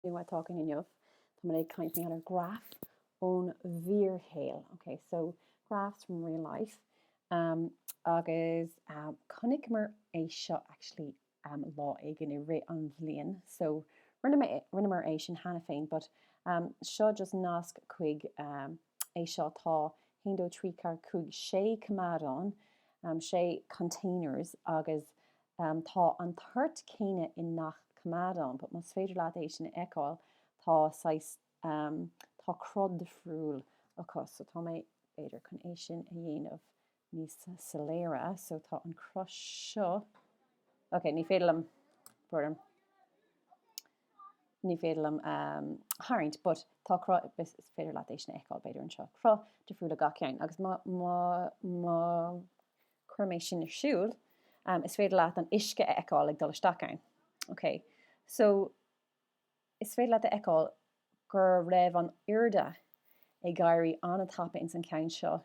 Táimid ag caint inniu? Tá mé ag caint níos mó ar graf ón bhfíorshaol. Okay, so graphs from real life. Um, agus um, chonaiceamar é seo actually um, lá éigin i rith an bhliain. So rinne mé rinneamar é sin cheana féin, but um, seo just nasc chuig um, é seo tá 1 2 3 4 5 6 coimeádán, um, 6 containers agus em tá an toirt céanna i ngach coimeádán but más féidir leat é sin a fheiceáil tá saghas em tá cruth difriúil acu so tá mé b'fhéidir chun é sin a dhéanamh níos soiléire so tá an cruth seo ok ní féidir liom bhrón ní féidir liom em tharraingt but tá cruth is is féidir leat é sin a fheiceáil b'fhéidir anseo cruth difriúil le gach ceann agus má má má Cuirfidh mé sin ar siúl. Is féidir leat an uisce a fheiceáil ag dul isteach ann. Ok. So, is féidir leat a fheiceáil go raibh an airde ag éirí an-tapa ins an cheann seo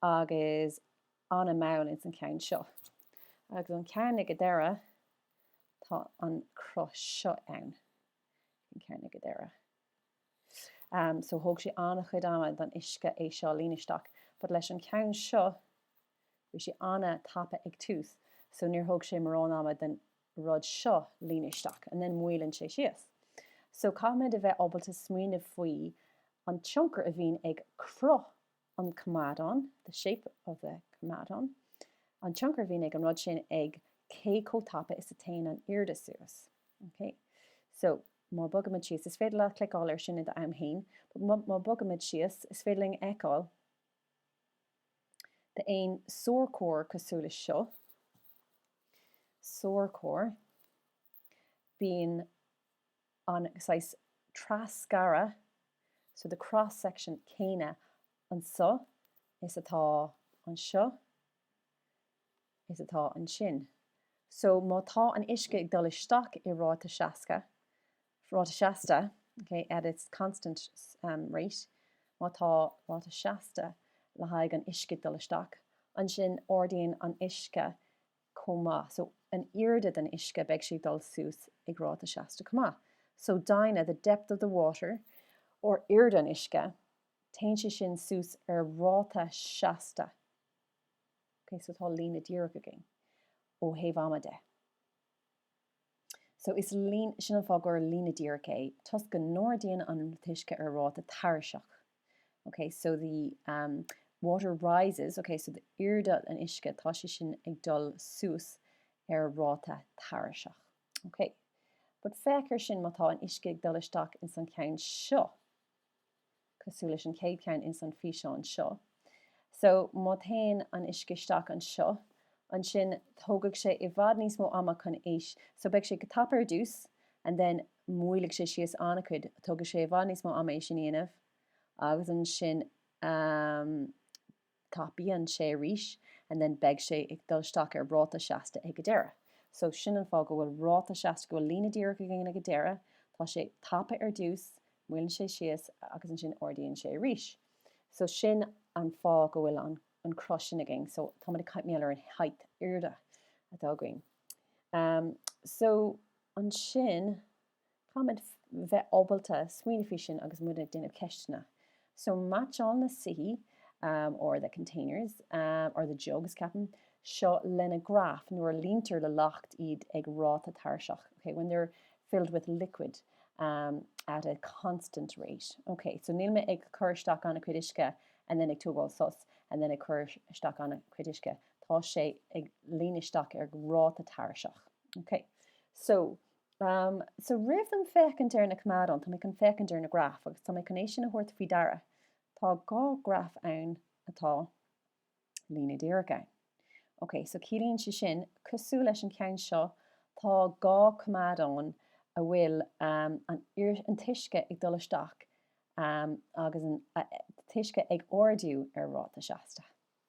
agus an-mall ins an cheann seo. Agus an ceann ag an deireadh, tá an cruth seo ann. An ceann ag an deireadh. am so thóg sé an-chuid ama don uisce é seo líonadh isteach but leis an ceann seo bhí sé an-tapa ag tús so níor thóg sé mórán ama den rud seo líonadh isteach and then moillíonn sé síos so caithfimid a bheith ábalta smaoineamh faoi an tionchar a bhíonn ag cruth an coimeádán, the shape of the coimeádán, an tionchar a bhíonn ag an rud sin ag cé chomh tapa is a théann an airde suas. Ok? So, má bhogaimid síos, is féidir leat cliceáil air sin i do am fhéin, but má bhogaimid síos, is féidir linn a fheiceáil d'aon sorcóir cosúil leis seo, sorcóir, bíonn. an saghas trasghearrtha, so the cross section, céanna anseo is atá anseo is atá ansin. So má tá an uisce ag dul isteach i ráta seasca, ráta seasta, okay, at its constant rate, má tá ráta seasta le haghaidh an uisce ag dul isteach, ansin ardaíonn an uisce chomh maith. So an airde den uisce beidh sé ag dul suas ag ráta seasta chomh maith. So doimhne, the depth of the water or airde an uisce téann sé sin suas ar ráta seasta. Okay, so tá líne díreach againn ó thaobh ama de. So is líne, sin an fáth gur líne díreach é, toisc go n-ardaíonn an t-uisce ar ráta tairiseach. Ok, so the water rises, ok, so the airde an uisce, tá sé sin ag dul suas ar ráta tairiseach. Ok, but féach ar sin, má tá an uisce ag dul isteach ins an cheann seo, cosúil leis an chéad cheann ins an físeán seo. So, má théann an uisce isteach anseo, ansin tógfaidh sé i bhfad níos mó ama chun a, so beidh sé go tapa ar dtús and then moillfidh sé síos an-chuid, tógfaidh sé i bhfad níos mó ama é sin a dhéanamh agus ansin, ehm, tapaíonn sé arís and then beidh sé ag dul isteach ar ráta seasta ag a deireadh. So sin an fáth go bhfuil ráta seasta go bhfuil líne díreach againn ag a deireadh, tá sé tapa ar dtús, moilleann sé síos agus ansin ardaíonn sé arís. So sin an fáth go bhfuil an an cruth sin againn so tá muid ag caint fós ar an height airde atá againn. Umm so ansin. Caithfimid bheith ábalta smaoineamh faoi sin agus muid ag déanamh ceisteanna. So meaitseáil na soithí or the containers or the jugs ceapaim, seo lena graf nuair a líontar le leacht iad ag ráta tairiseach, okay, when they're filled with liquid at a constant rate. Okay, so níl mé ag cur isteach an-chuid uisce and then ag tógáil sos and then ag cur isteach an-chuid uisce. Tá sé ag líonadh isteach ar ráta tairiseach. Okay, so. So roimh dom féachaint ar na coimeádáin, tá mé chun féachaint ar na graif agus tá mé chun é sin a thabhairt faoi deara. Tá dhá graf ann atá líne díreach ann. Ok, so ciallaíonn sé sin, cosúil leis an cheann seo, tá dhá coimeádán a bhfuil an t-uisce ag dul isteach agus an t-uisce ag ardú ar ráta seasta.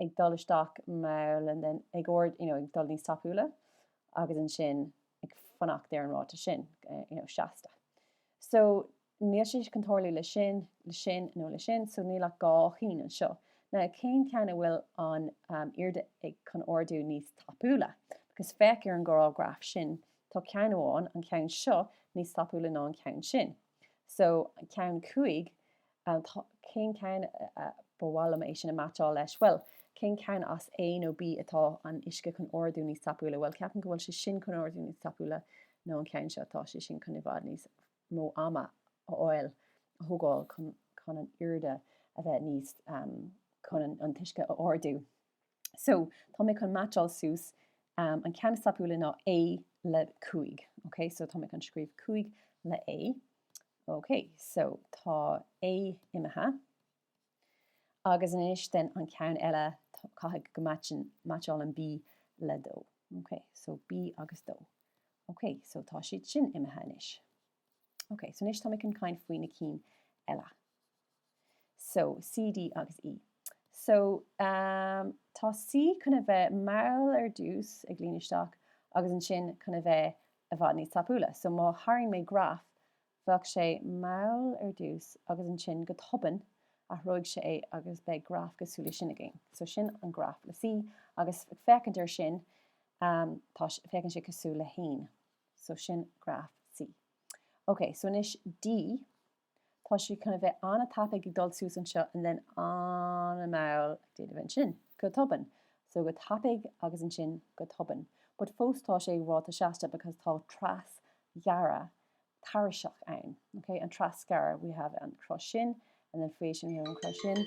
ag dul isteach mall and then ag ard you know ag dul níos tapúla agus ansin ag fanacht ar an ráta sin you know seasta so níl sé chun tarlú le sin le sin nó le sin so níl ach dá cheann anseo ná cén ceann a bhfuil an um, airde ag chun ardú níos tapúla because féach ar an gcéad dá graf sin tá ceann amháin an ceann seo níos tapúla ná an ceann sin So, ceann cúig, cén ceann a, ba mhaith liom é sin a meaitseáil leis, bhuel, cén ceann as A nó B atá an uisce chun ardú níos tapúla, bhuel, ceapaim go bhfuil sé sin chun ardú níos tapúla ná an ceann seo, tá sé sin chun i bhfad níos mó ama a fháil, a thógáil chun an airde a bheith níos, chun an t-uisce a ardú. So tá mé chun meaitseáil suas an ceann is tapúla ná A le 5. Ok so tá mé chun scríobh 5 le A. Ok so tá A imithe. Agus anois den an ceann eile caithfidh go meaitseálann B le 2. Ok so B agus 2. Ok so tá siad sin imithe anois. Ok so anois tá mé chun caint faoi na cinn eile. So, C, D agus E. So, um, tá C chun a bheith mall ar dtús, ag líonadh isteach, agus ansin chun a bheith i bhfad níos tapúla. So, má tharraing mé graf, bheadh sé mall ar dtús agus ansin go tobann, athróidh sé agus beidh graf cosúil leis sin againn. So, sin an graf le C agus ag féachaint air sin, um, tá, féachann sé cosúil le haon. So, sin graf C. Okay, so anois D. Tá sé chun a bheith an-tapaidh ag dul suas anseo and then an-mall ag déanamh ansin, go tobann. So go tapaidh agus ansin go tobann. But fós tá sé ag ráta seasta because tá trasghearradh tairiseach ann. Okay? An trasghearradh, we have an cros sin and then faoi sin we have an cros sin.